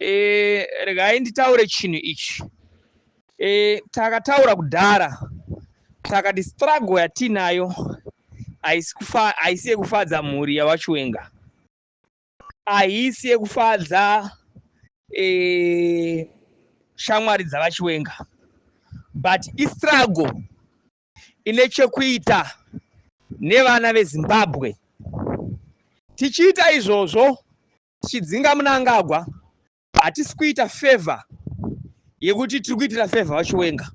Eh, regai nditaure chinhu ichi eh, takataura kudhara takati struggle yatiinayo haisi yekufadza mhuri yavachiwenga haisi yekufadza eh, shamwari dzavachiwenga but istruggle ine chekuita nevana vezimbabwe tichiita izvozvo Chidzinga Munangagwa hatisi kuita favor yekuti tiri kuitira favor vachiwenga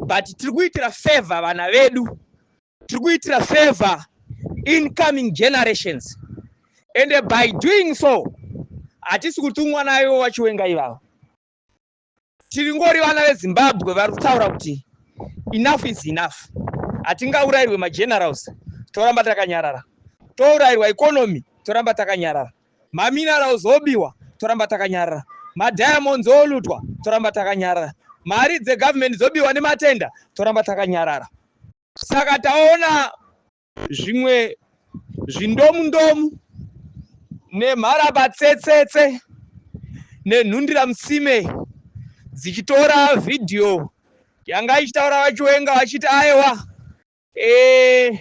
but tiri kuitira favor vana vedu tiri kuitira favor incoming generations and by doing so hatisi kutumwa nayo vachiwenga ivavo Tiringori vana veZimbabwe vari kutaura kuti enough is enough. Hatingaurairwe magenerals toramba takanyarara. Tourairwa economy toramba takanyarara. Maminerals obiwa toramba takanyarara. Madiamonds olutwa toramba takanyarara. Mari dzegovernment dzobiwa nematenda toramba takanyarara. Saka taona zvimwe zvindomundomu nemharabatsetsetse nenhundiramusime dzichitora vhidhiyo yanga ichitaura vachiwenga vachiti aiwa e,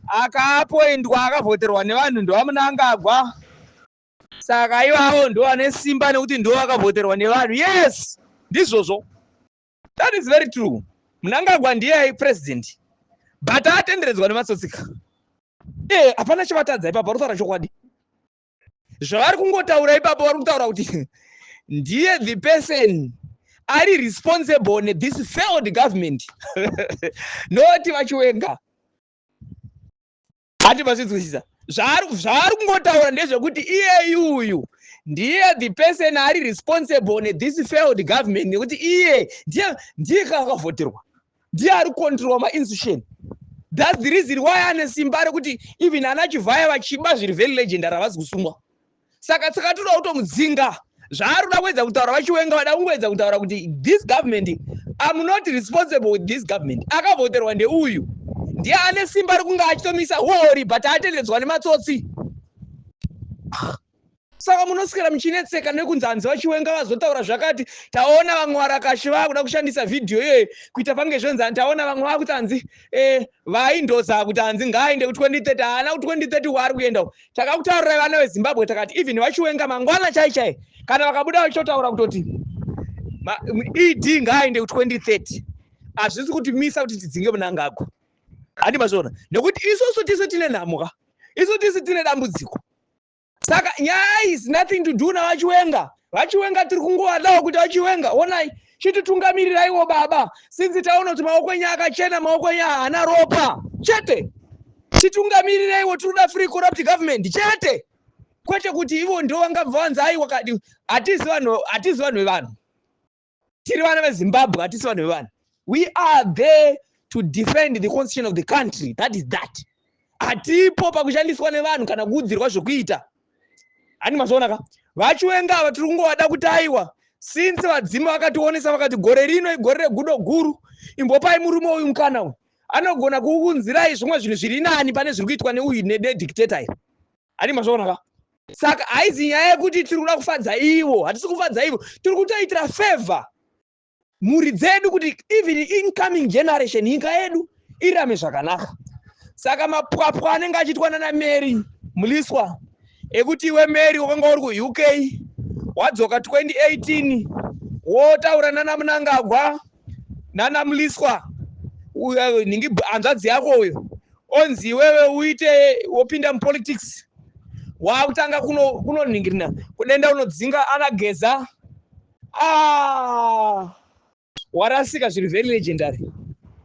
akapoindwa akavhoterwa nevanhu ndovamunangagwa saka ivavo ndovane simba nekuti ndovakavhoterwa nevanhu yes ndizvozvo That is very true. Mnangagwa ndiye ai president but atenderedzwa nematsotsika. Eh, hapana chivatadza ipapo vari kutaura chokwadi. Zvavari kungotaura ipapo vari kutaura kuti ndiye the person ari responsible ne this failed government. Not vachiwenga. ati masinzwisisa zvaari kungotaura ndezvekuti iyeyi uyu ndiye the person ari responsible nethis failed government nekuti iye ndiye ndiye ka akavhoterwa ndiye ari kucontrola mainstitution thats the reason why ane simba rekuti even ana chivhaya vachiba zviri very legend ravasi kusungwa saka tsaka toda kutomudzinga zvaari kuda kuedza kutaura vachiwenga vada kungoedza kutaura kuti this government am not responsible with this government akavhoterwa ndeuyu ndiye ane simba rekunge achitomisa huori but atendedzwa nematsotsi saka munoswera muchinetseka nekunzi hanzi vachiwenga vazotaura zvakati taona vamwe varakashi vakuda kushandisa vhidhiyo iyoyo kuita pange zvenzani taona vamwe vakuti hanzi e eh, vaindoza kuti hanzi ngaaende ku 2030 haana ku 2030 waari kuenda takakutaurirai vana vezimbabwe takati even vachiwenga mangwana chai chai kana vakabuda vachitotaura kutoti ed ngaaende ku2030 hazvisi kuti misa kuti tidzinge munangagwa handi mazviona nekuti isusu tisi tine nhamo ka isu tisi tine dambudziko saka nyaya is nothing to do navachiwenga vachiwenga tiri kungowadawo kuti vachiwenga onai chititungamiriraiwo baba sinzi taona kuti maoko enyu akachena maoko enyu haana ropa chete chitungamiriraiwo tinoda free corrupt government chete kwete kuti ivo ndo vangabva vanzi aiwa kadi hatizi vanhu hatizi vanhu vevanhu tiri vana vezimbabwe hatisi vanhu vevanhu we are there to defend the constitution of the country that is that hatipo pakushandiswa nevanhu kana kuudzirwa zvokuita ani mazoona ka vachiwenga ava tiri kungovada kuti aiwa since vadzimu vakationesa vakati gore rino igore regudo guru imbopai murume uyu mukana uyu anogona kuunzirai zvimwe zvinhu zviri nani pane zviri kuitwa neuyu nedictator iri ani mazoona ka saka haizi nyaya yekuti tiri kuda kufadza ivo hatisi kufadza ivo tiri kutoitira favor mhuri dzedu kuti even incoming generation nyika yedu irame zvakanaka saka mapwapwa anenge achiitwa nana mary muliswa ekuti iwe mary wakanga uri kuuk wadzoka 2018 wotaura nana munangagwa nana muliswa nhingi hanzvadzi yako uyo onzi iwewe uite wopinda mupolitics waakutanga kunonhingirina kuno kudenda unodzinga anageza Ah! Warasika zviri very legendary.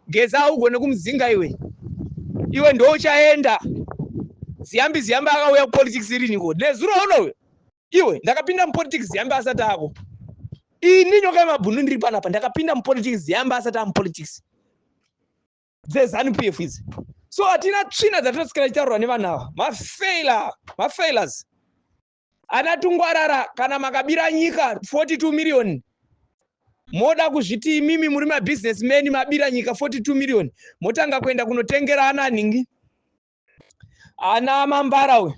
Geza haugone kumudzinga iwe. Iwe ndouchaenda. Ziyambi Ziyambi akauya kupolitics iriniko? Nezuro uno uyo. Iwe ndakapinda mupolitics Ziyambi asati ako. Ini nyoka yemabhunu ndiri panapa ndakapinda mupolitics Ziyambi asati amupolitics. Dzezanu PF idzi. So hatina tsvina dzatinosikira chitaurwa nevanhu ava. Mafailure, mafailures. Ana tungwarara kana makabira nyika 42 million moda kuzviti imimi muri mabusiness men mabira nyika 42 million motanga kuenda kunotengera ana nhingi ana mambara uyu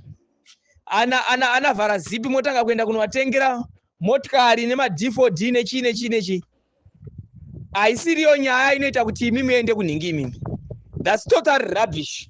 ana ana ana vhara zipi motanga kuenda kunovatengera motikari nemadfod nechii nechii nechii haisiriyo nyaya inoita kuti imi muende kunhingi imimi thats total rubbish